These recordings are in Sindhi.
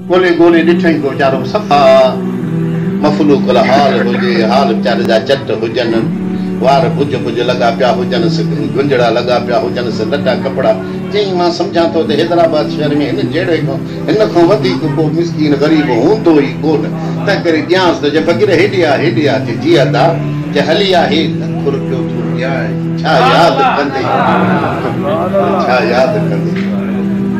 ڳولي ڳولي ڏٺئين ڪو ويچارو صفا مفلوق الحال هجي، حال ويچاري جا چٽ هجن، وار ڀڄ ڀڄ لڳا پيا هجنس، گهنجڙا لڳا پيا هجنس، لٽا ڪپڙا چيائين مان سمجهان ٿو ته حيدرآباد شهر ۾ هن جهڙي کان هن کان وڌيڪ ڪو مسڪين غريب هوندو ئي ڪونه، تنهنڪري ڏيانس ته چي فقير هيڏي آ هيڏي آ، چي جي ادا، چي هلي آ هي لک روپيو ٿو ڏيانء، ڇا ياد ڪندين؟ ڇا ياد ڪندين؟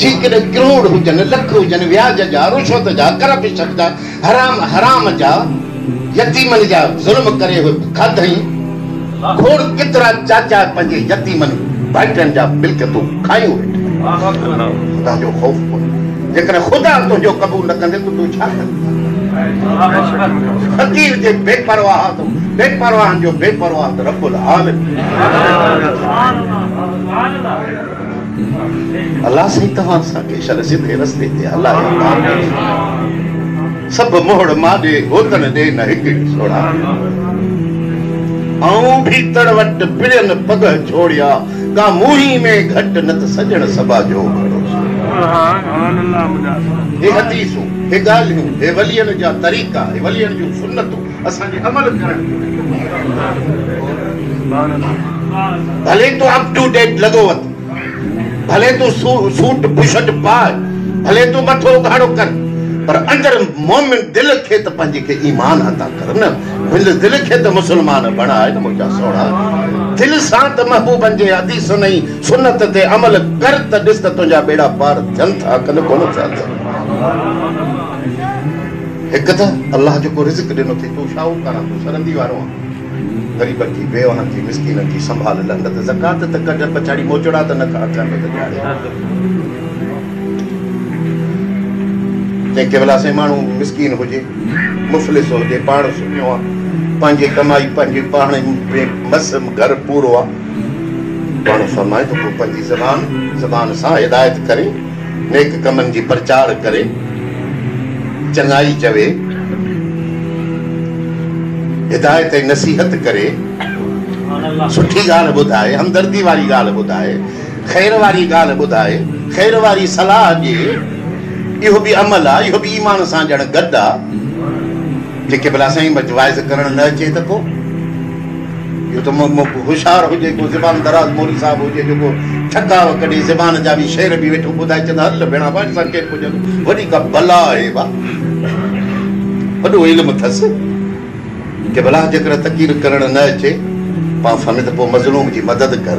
جيڪڏهن ڪروڙ هجن، لک هجن، وياج جا، رشوت جا، ڪرپشن جا، حرام حرام جا، يتيمن جا ظلم ڪري اهي کاڌئين، کوڙ ڪيترا چاچا پنهنجي يتيمن ڀائٽين جا ملڪيتون کايون ويٺا. خدا جو خوف ڪونهي. جيڪڏهن خدا تنهنجو قبول نه ڪندي ته تون ڇا ڪندين. فقير جي بي پرواهه بي پرواهن جو بي پرواهه ته رب العالمين. الله سائين توهان سان کي شل سڌي رستي تي هلائي آمين سڀ موڙ ماڏي گوتڻ ڏي نه هڪ هڪ سوڙها آئون ڀي تڙ وٽ پڙين پگهه جوڙيا ڪا موهي ۾ گهٽ نه ته سڄڻ سڀا جو گهڙو سوڙها هي حديثون هي ڳالهيون هي ولين جا طريقا هي ولين جون سنتون اسان جي عمل ڪرڻ ڀلي تون اپ ٽو ڊيٽ لڳو وت ڀلي تون سوٽ بشٽ پاء ڀلي تون مٿو اگهاڙو ڪر پر اندر مومن دل کي ته پنهنجي کي ايمان عطا ڪر نه هن دل کي ته مسلمان بڻاء نه منهنجا سهڻا دل سان ته محبوبن جي حديثن ۽ سنت تي عمل ڪر ته ڏس ته تنهنجا ٻيڙا پار ٿين ٿا ڪن ڪونه ٿيا ٿين هڪ ته الله جيڪو رزق ڏنو ٿئي تون شاهوڪاران تون سرندي وارو آن غريبن جي بيوهن جي مسڪينن جي سنڀال لهنگ ته زڪوات ته ڪڍ پڇاڙي موچڙا ته نه کاء اکين ۾ ته ڄاڙي جنهن ڪيولا سائين ماڻهو مسڪين هجي مفلس هجي پاڻ سڃو آ پنهنجي ڪمائي پنهنجي پاڻ ۾ مس گهر پورو آ ماڻهو فرمائي ته پوء پنهنجي زبان زبان سان هدايت ڪري نيڪ ڪمن جي پرچار ڪري، چڱائي چوي، هدايت ۽ نصيحت ڪري، سٺي ڳالهه ٻڌائي، همدردي واري ڳالهه ٻڌائي، خير واري ڳالهه ٻڌائي، خير واري صلاح ڏي، اهو به عمل آ، اهو به ايمان سان ڄڻ گڏ آ، جيڪي ڀلا سائين مجھ واعظ ڪرڻ نه اچي ته ڪو. اهو ته مئڪو هوشيار هجي، ڪو زبان دراز موري صاحب هجي جو ڪو ٺڪاء ڪڍي زبان جا وي شعر به ويٺو ٻڌائي چئه ته هل ڀيڻا واٽ سان ڪير پڄندو، وڏي ڪا بلا آهي ڀا، وڏو علم اٿس ته ڀلا جيڪر تقرير ڪرڻ نه اچي پاڻ سميت پوء مظلوم جي مدد ڪر.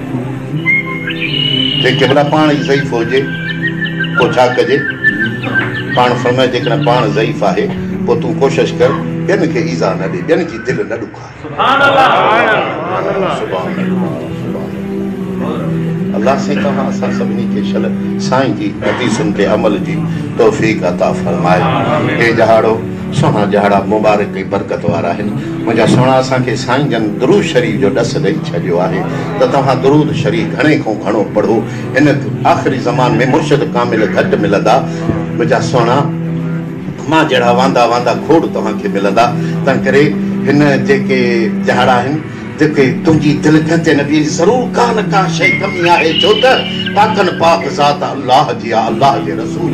جي قبلا پاڻ ئي ضعيف هجي پوء ڇا ڪجي؟ پاڻ فرمايو جيڪڏهن پاڻ ضعيف آهي پوء تون ڪوشش ڪر ٻين کي ايذاء نه ڏي ٻين جي دل نه ڏکاء. سبحان الله سبحان الله سائين توهان اسان سڀني کي شل سائين جي حديثن تي عمل جي توفيق عطا فرمائي هي ڄهاڙو سهڻا ڄهاڙا مبارڪ ۽ برڪت وارا آهن. منهنجا سهڻا اسان کي سائين جن درود شريف جو ڏس ڏئي ڇڏيو آهي ته توهان درود شريف گهڻي کون گهڻو پڙهو هن آخري زمان ۾ مرشد ڪامل گهٽ ملندا منهنجا سهڻا مان جهڙا واندا واندا کوڙ توهان کي ملندا تنهنڪري هن جيڪي جهڙا آهن جيڪي تنهنجي دل کهنجي نه بيهي ضرور ڪا نه ڪا شئي ڪمي آهي ڇو ته پاڪن پاڪ ذات الله جي آ الله جي رسول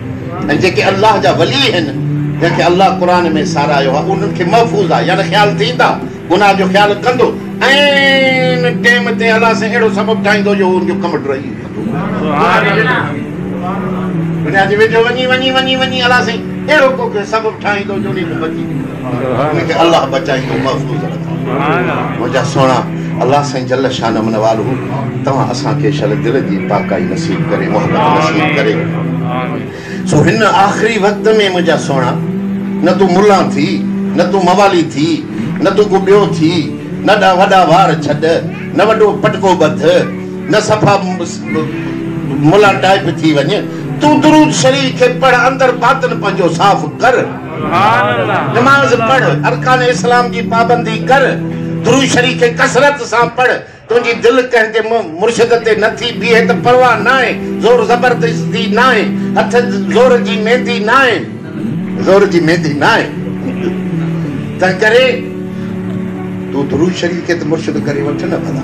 ۽ جيڪي الله جا ولي هن جن کي الله قرآن ۾ ساراهيو آهي انهن کي محفوظ آهي يعني خيال ٿيندا گناهه جو خيال ڪندو عين ٽيم تي الله سائين اهڙو سبب ٺاهيندو جو هو ان جو ڪم ڊهي ويندو. ان کي الله بچائيندو محفوظ رکندو منهنجا سهڻا الله سائين جل شانه من والهو توهان اسان کي شل دل جي پاڪائي نصيب ڪري محبت نصيب ڪري سو هن آخري وقت ۾ منهنجا سهڻا نه تون ملان ٿي نه تون موالي ٿي نه تون ڪو ٻيو ٿي نه ڏا وڏا وار ڇڏ نه وڏو پٽڪو ٻڌ نه صفا ملان ٽائيپ ٿي وڃ تون درود شريف کي پڙهه اندر باطن پنهنجو صاف ڪر نماز پڙهه، ارڪان اسلام جي پابندي ڪر، درود شريف ڪثرت سان پڙهه، تنهنجي دل ڪنهن جي مرشد تي نه ٿي بيهي ته پرواهه ناهي، زور زبردستي ناهي، هٿ زور جي ميندي ناهي، زور جي ميندي ناهي، تنهنڪري تون درود شريف کي ته مرشد ڪري وٺ نه ڀلا.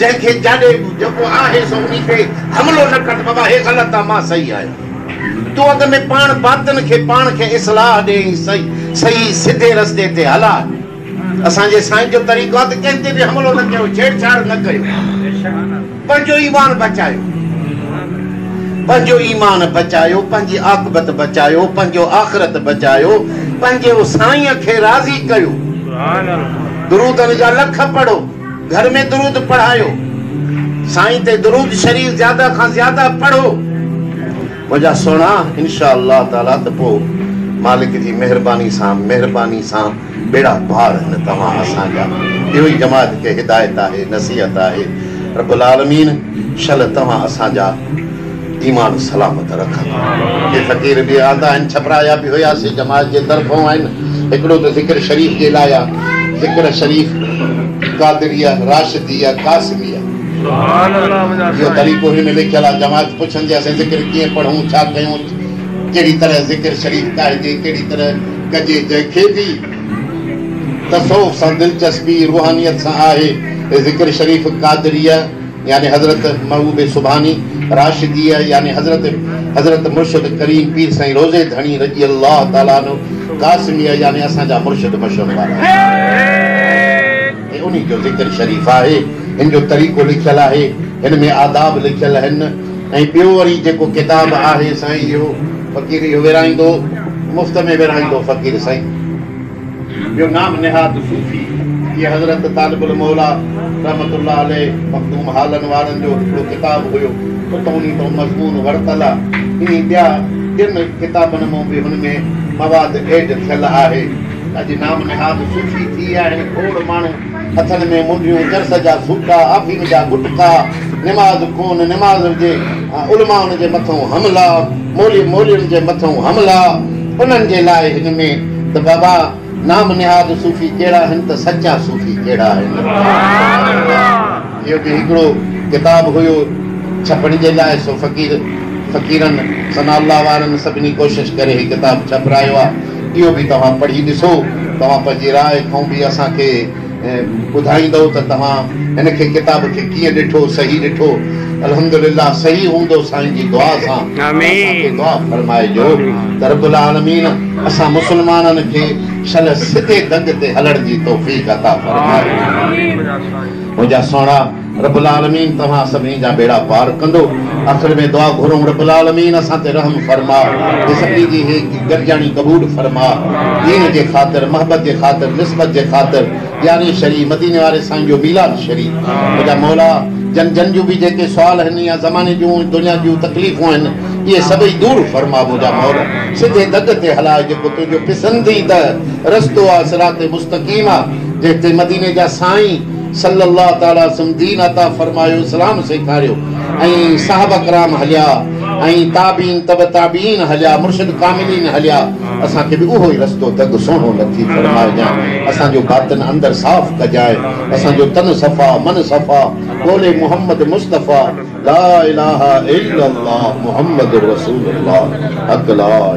جنهن کي جاڏي جيڪو آهي سو انهي تي حملو نه ڪر ته بابا هي غلط آ مان صحيح آهيان تون اڳ ۾ پاڻ باطن کي پاڻ کي اصلاح ڏي ۽ صحيح سڌي رستي تي هلاء اسان جي سائين جو طريقو آ ته ڪنهن تي به حملو نه ڪيو ڇيڙ ڇاڙ نه ڪيو. پنهنجو ايمان بچايو پنهنجو ايمان بچايو پنهنجي عاقبت بچايو پنهنجو آخرت بچايو پنهنجي سائين کي راضي ڪيو درودن جا لک پڙهو گهر ۾ درود پڙهايو سائين تي درود شريف زياده کان زياده پڙهو. وجا سهڻا انشاء الله تعالي ته پوء مالڪ جي مهرباني سان مهرباني سان ٻيڙا پار هن توهان اسان جا اهو ئي جماعت کي هدايت آهي نصيحت آهي رب العالمين شل توهان اسان جا ايمان سلامت رکن ڪي فقير به آندا آهن ڇپرا يا به هيا سي جماعت جي طرفون آهن هڪڙو ته ذڪر شريف جي لاء آهي ذڪر شريف قادريه راشديه قاسميه اهو طريقو هن ۾ لکيل آهي. جماعت پڇندي اسين ذڪر ڪيئن پڙهون، ڇا ڪيون، ڪهڙي طرح ذڪر شريف ڳائجي، ڪهڙي طرح ڪجي، جنهن کي به تصوف سان دلچسپي، روحانيت سان آهي، ذڪر شريف قادريه يعني حضرت محبوب سبحاني، راشديه يعني حضرت حضرت مرشد ڪريم پير سائين روضي ڌڻي رضي الله تعالٰي عنه، قاسميه يعني اسان جا مرشد مشهور وارا. هي انهي جو ذڪر شريف آهي. هن جو طريقو لکيل آهي. هن ۾ آداب لکيل آهن ۽ ٻيو وري جيڪو ڪتاب آهي سائين اهو فقير اهو ورهائيندو مفت ۾ ورهائيندو فقير سائين. ٻيو نام نهاد صوفي هي حضرت طالب الموليٰ رحمة الله عليه مخدوم هالن وارن جو هڪڙو ڪتاب هيو سو ته انهي تان مضمون ورتل آ ائين ٻيا ٽن ڪتابن مان به هن ۾ مواد ايڊ ٿيل آهي. اڄ نام نهاد صوفي ٿي ويا آهن کوڙ ماڻهو، هٿن ۾ منڍيون، چرس جا سوٽا، آفيم جا غٽڪا، نماز ڪونه نماز هجي، علمائن جي مٿئون حملا، مولوي مولوين جي مٿئون حملا، انهن جي لاء هن ۾ ته بابا نام نهاد صوفي ڪهڙا آهن ته سچا صوفي ڪهڙا آهن. اهو به هڪڙو ڪتاب هيو ڇپڻ جي لاء سو فقير فقيرن ثناء الله وارن سڀني ڪوشش ڪري هي ڪتاب ڇپرايو آهي. اهو به توهان پڙهي ڏسو. توهان پنهنجي راء ڪئون به اسان کي ٻڌائيندئو ته توهان هن کي ڪتاب کي ڪيئن ڏٺو صحيح ڏٺو الحمدلله صحيح هوندو سائين جي دعا سان اسان کي دعا فرمائجو ته رب العالمين اسان مسلمانن کي شل سڌي دڳ تي هلڻ جي توفيق عطا فرمائي منهنجا سهڻا. رب العالمين توهان سڀني جا ٻيڙا پار ڪندو آخر ۾ دعا گهرون رب العالمين اسان تي رحم فرما ۽ سڀني جي هي گڏجاڻي قبول فرما دين جي خاطر محبت جي خاطر نسبت جي خاطر ڄاري شريف مديني واري سائين جو ميلاد شريف منهنجا مولا جن جن جون به جيڪي سوال آهن يا زماني جون دنيا جون تڪليفون آهن اهي سڀئي دور فرما منهنجا مولا سڌي دڳ تي هلاء جيڪو تنهنجو پسنديده رستو آهي صراط مستقيم آهي جنهن تي مديني جا سائين صلّي الله تعالٰي وسلّم دين عطا فرمايو اسلام سيکاريو ۽ صحابه ڪرام هليا ۽ تابعين تبع تابعين هليا مرشد ڪاملين هليا اسان کي به اهو ئي رستو دڳ سهڻو لطيف فرمائجان اسان جو باطن اندر صاف ڪجانء اسان جو تن صفا من صفا قول محمد مصطفٰي لا اله الا الله محمد رسول الله حق لا